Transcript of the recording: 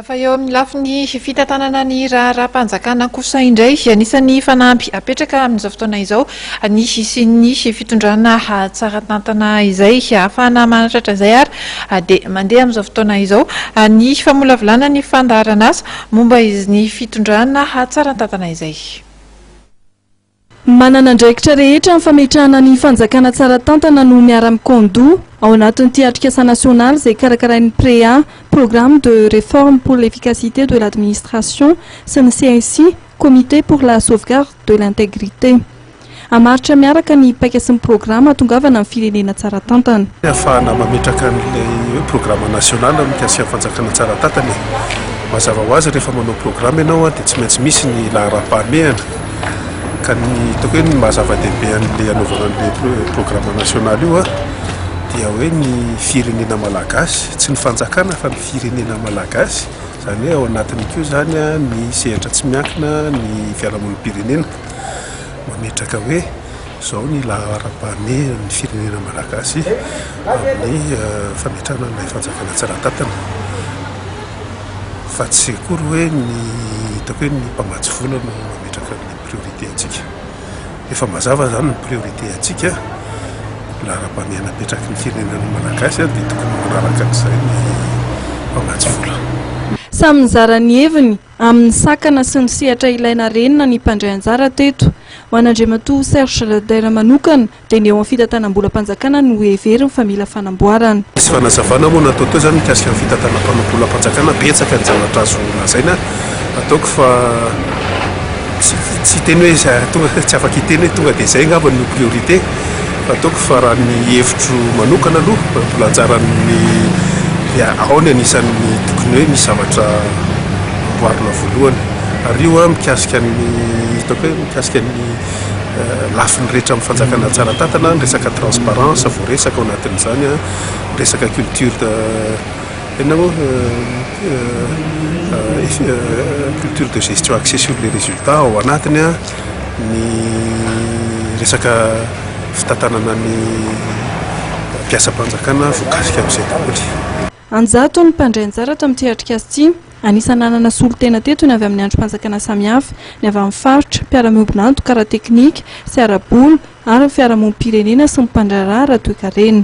Fa eo amin'ny lafiny fitantanana ny raharaham-panjakana kosa indray, anisan'ny fanamby apetraka amin'izao fotoana izao ny hisian'ny fitondrana tsara tantana izay. Ahafahana manatratra izay ary dia mandeha amin'izao fotoana izao ny famolavolana ny fandaharan'asa momba ny fitondrana tsara tantana izay. Manana andraikitra rehetra amin'ny fametrahana ny fanjakana tsara tantana no miara-mikôndoha ao anatin'ity atrikasa nasionaly izay karakarain'ny PREA, Programme de Réforme pour l'Efficacité de l'Administration, sy ny CSI, Comité pour la Sauvegarde de l'Intégrité. Hamaritra miaraka ny paika sy ny programa hahatongavana amin'ny firenena tsara tantana. Hahafahana mametraka an'ilay hoe programa nasionaly mikasika ny fanjakana tsara tantana e. Mazava ho azy rehefa manao programa ianao dia tsy maintsy misy ny laharam-pahamehana. Ka ny hitako hoe ny maha zava-dehibe an'ilay anaovana an'ilay programme national io dia hoe ny firenena malagasy, tsy ny fanjakana fa ny firenena malagasy, izany hoe ao anatiny koa izany ny sehatra tsy miankina, ny fiarahamonim-pirenena mametraka hoe. Izao ny laharam-pahamehana ny firenena malagasy amin'ny fametrahana ilay fanjakana tsara tantana fa tsy akory hoe ny hitako hoe ny mpamatsy vola no mametraka ny priorité antsika. Efa mazava izany ny priorité antsika, ny laharam-pahamehana apetraky ny firenena malagasy dia tokony manaraka an'izay ny mpamatsy vola. Samy nizara ny heviny Amin'ny sakana sy ny sehatra ilaina harenina ny mpandray anjara teto. Ho an'Andriamatoa Serge Rader manokana dia ny eo amin'ny fitantanam-bolam-panjakana no heveriny fa mila fanamboarana. Nisy fanazavana moa natao teo izany mikasika ny fitantanam-bolam-panjakana, betsaka ny zavatra azo lazaina. Ataoko fa tsy hiteny hoe, tsy afaka hiteny hoe tonga dia izay angamba no priorité. Ataoko fa raha ny hevitro manokana aloha mbola anjaran'ny dia ao ny anisan'ny tokony hoe misy zavatra amboarina voalohany ary io an mikasika ny hitako hoe mikasika ny lafiny rehetra amin'ny fanjakana tsara tantana ny resaka transparence voaresaka ao anatin'izany an ny resaka culture inona moa culture de gestion axée sur les résultats ao anatiny an ny resaka fitantanana ny mpiasam-panjakana voakasika amin'izay daholo. An-jato ny mpandray anjara tamin'ity atrikasa ity. Anisan'ny nanana solontena teto ny avy amin'ny andrim-panjakana samihafa, ny avy amin'ny faritra, mpiara-miombon'antoka ara-teknika sy ara-bola ary ny fiarahamonim-pirenena sy ny mpandraharaha ara-toekarena.